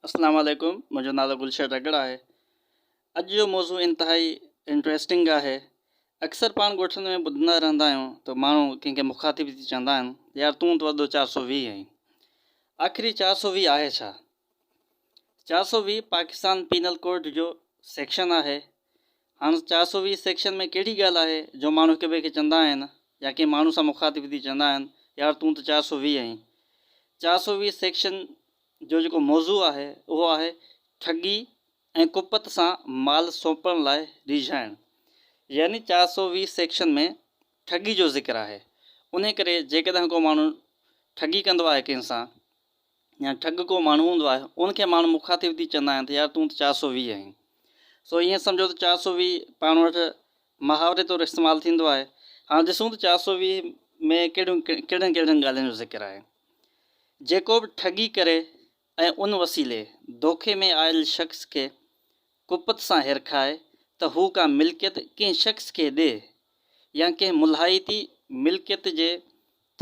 اسلام عليڪم منهنجو نالو گلشير رڳڙ آهي اڄ جو موضوع انتهائي انٽريسٽنگ آهي اڪثر پاڻ ڳوٺن ۾ ٻڌندا رهندا آهيون ته ماڻهو ڪنهن کي مخاطب ٿي چوندا آهن يار تون ته وڏو چار سو ويهه آهين آخر هي چار سو ويهه آهي ڇا چار سو ويهه پاڪستان پينل ڪوڊ جو سيڪشن آهي هاڻ چار سؤ ويهه سيڪشن ۾ ڪهڙي ڳالهه آهي جو ماڻهو هڪ ٻئي کي چوندا آهن يا ڪنهن ماڻهو سان مخاطب ٿي چوندا آهن يار تون ته چار سؤ ويهه آهين. چار سؤ ويهه سيڪشن جو جيڪو موضوع آهي اهو آهي ٺڳي ۽ ڪپت سان مال سونپڻ لاء ريجهائڻ يعني چار سؤ ويهه سيڪشن ۾ ٺڳي جو ذڪر آهي انهي ڪري جيڪڏهن ڪو ماڻهو ٺڳي ڪندو آهي ڪنهن سان يا ٺڳ ڪو ماڻهو هوندو آهي، ان کي ماڻهو مخاطب ٿي چوندا آهن ته يار تون ته چار سؤ ويهه آهين. سو ائين سمجهو ته چار سؤ ويهه پاڻ وٽ محاوري طور استعمال ٿيندو آهي. هاڻ ڏسون ته چار سؤ ويهه ۾ ڪهڙيون ڪهڙين ڪهڙين ڳالهين جو ذڪر آهي. جيڪو به ٺڳي ڪري ۽ ان وسيلي دوکي ۾ آيل شخص کي ڪپت سان هرکائي ته هو ڪا ملڪيت ڪنهن شخص کي ڏي يا ڪنهن ملهائتي ملڪيت جي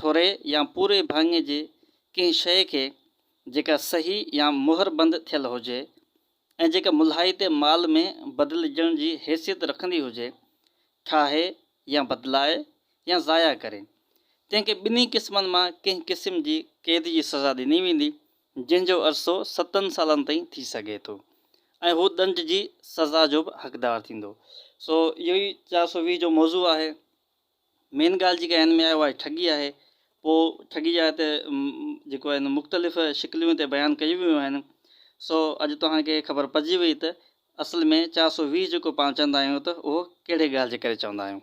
ٿوري يا پوري ڀاڱي جي ڪنهن شيء کي جيڪا صحيح يا مهر بند ٿيل هجي ۽ جيڪا ملهائتي مال ۾ بدلجڻ جي حيثيت رکندي هجي، ٺاهي يا بدلائي يا ضايع ڪري، تنهن کي ٻنهي قسمن مان ڪنهن قسم جي قيد جي سزا ڏني ويندي، جنهن جو عرصو ستن سالن تائين ٿي سگهي ٿو ۽ هو ڏنڊ جي سزا جو به حقدار ٿيندو. سو اهو ئي چار سؤ ويهه جو موضوع آهي. مين ڳالهه جيڪا هن ۾ آهي اها ٺڳي آهي. پوء ٺڳي جا هتي جيڪو آهي نو مختلف شڪليون هتي بيان ڪيون ويون آهن. سو اڄ توهان کي خبر پئجي وئي ته اصل ۾ چار سؤ ويهه جيڪو پاڻ چوندا آهيون ته اهو ڪهڙي ڳالهه جي ڪري چوندا آهيون.